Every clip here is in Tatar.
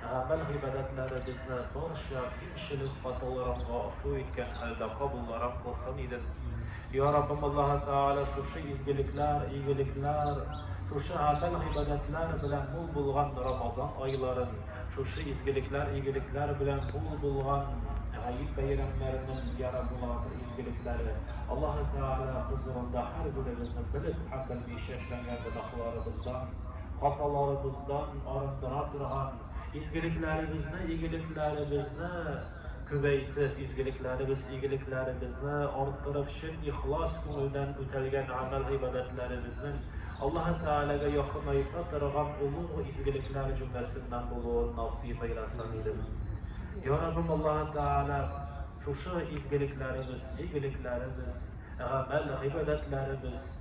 Гамәл-гыйбадәтләребезне барча кимчелек хаталарынга офу иткән хәлдә кабулларак кылсын идем. Я Раббым Аллаһы Тәгалә шушы изгелекләр, игелекләр, шушы гамәл-гыйбадәтләр белән мул булган Рамазан айларын, шушы изгелекләр, игелекләр белән мул булган Гает бәйрәмнәренең яра буласы изгелекләре Аллаһы Тәгалә хозурында һәр беребезне белеп һәм белмичә эшләнгән гөнаһларыбыздан Хаталарыбыздан арындыра торган, изгелекләребезне, игелекләребезне күбәйтеп, изгелекләребез, игелекләребезне арттырып, чын ихлас күңелдән үтәлгән гамәл-гыйбадәтләребезнең Аллаһ Тәгаләгә якынайта торган олуг изгелекләр җөмләсеннән булуын насыйп әйләсен идем. Ярабым Аллаһ Тәгалә шушы изгелекләребез, игелекләребез, гамәл, гыйбадәтләребез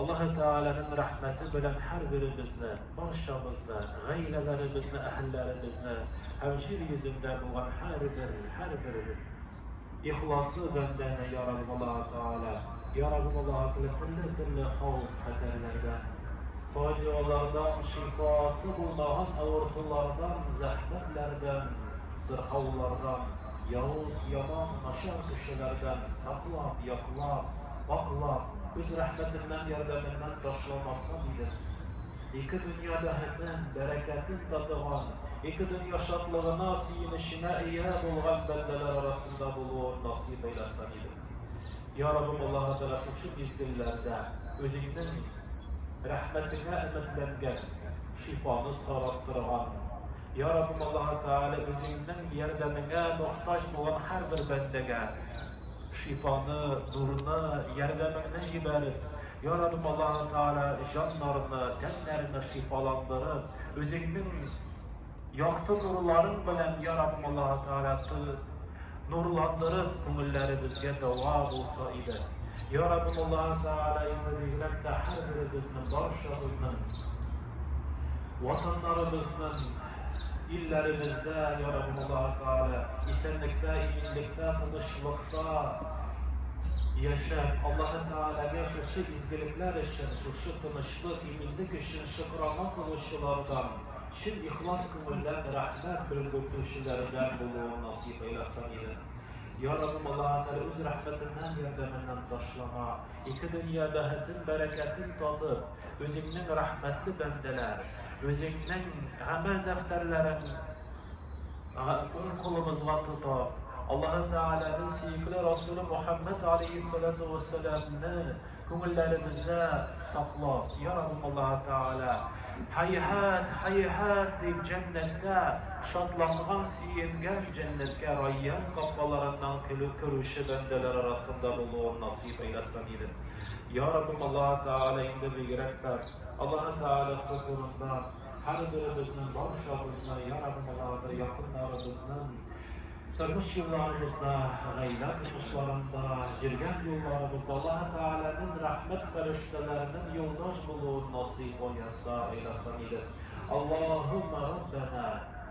Аллаһы Тәгаләнең рәхмәте белән һәрберебезне, барчабызны, гаиләләребезне, әһелләребезне һәм җир йөзендә булган һәрбер, һәрбер ихласлы бәндәне, йа Рабб Аллаһы Тәгалә, йа Рабб Аллаһы Тәгалә, төрле-төрле хәвеф-хәтәрләрдән, фаҗигалардан, шифасы булмаган авыртулардан, зәхмәтләрдән, сырхаулардан, явыз, яман, начар кешеләрдән саклап, яклап, пакълап, үз рәхмәтеннән, ярдәменнән ташламаса дидем. Ике дөнья бәһетен, бәрәкәтен татыган, ике дөнья шатлыгына, сөенеченә ия булган бәндәләр арасында булуын насыйп әйләсә дидем. Я Раббым, Аллаһы Тәгалә шушы мизгелләрдә Үзеңнең рәхмәтеңә өметләнгән, шифаны сорап торган, Йа Раббым Аллаһы Тәгалә, үзеңнең ярдәмеңә мохтаҗ булган һәрбер бәндәгә шифаны, нурны, ярдәмеңне җибәр, Йа Раббым Аллаһы Тәгалә, җаннарны, тәннәрне шифаландырып, үзеңнең якты нурларың белән, Йа Раббым Аллаһы Тәгалә, нурландырып, күңелләребезгә дәва булса иде. Йа Раббым Аллаһы Тәгалә, инде бигрәк тә һәрберебезнең, барчабызның, Ватаннарыбызның, илләребездә, я Раббыбыллаһы Тәгалә, исәнлектә, иминлектә, тынычлыкта яшәп, Аллаһы Тәгаләгә шушы изгелекләр өчен, шушы тынычлык, иминлек өчен шөкерана кылучылардан, чын ихлас күңелдән рәхмәт белгертүчеләрдән булуын насыйп әйләсен иде. Я Раббыбыллаһы Тәгалә үз рәхмәтеннән, ярдәменнән ташлама. Ике дөнья бәхетен, бәрәкәтен татып, Үзеңнең рәхмәтле бәндәләр, Үзеңнең гамәл дәфтәрләрен уң кулыбызга тотып, Аллаһы Тәгаләнең сөекле Расулы Мөхәммәд галәйһиссәлату вәссәламне күңелләребездә саклап, Йа Раббым Аллаһы Тәгалә, һәйһәт, һәйһәт дип, җәннәттә шатланган, сөенгән, җәннәткә Райян капкаларыннан көлеп керүче бәндәләр арасында булуын насыйп дип айдаткан идем. Я Раббым Аллаһы Тәгалә инде бигрәк тә Аллаһы Тәгалә хозурында һәрберебезнең барчабызны, Я Раббым Аллаһы Тәгалә якыннарыбызның тормыш юлларыбызда, гаилә тормышларында, йөргән юлларыбызда Аллаһы Тәгаләнең рәхмәт фәрештәләренең юлдаш булуын насыйп айаса, айдаса иде. Аллаһумма Раббана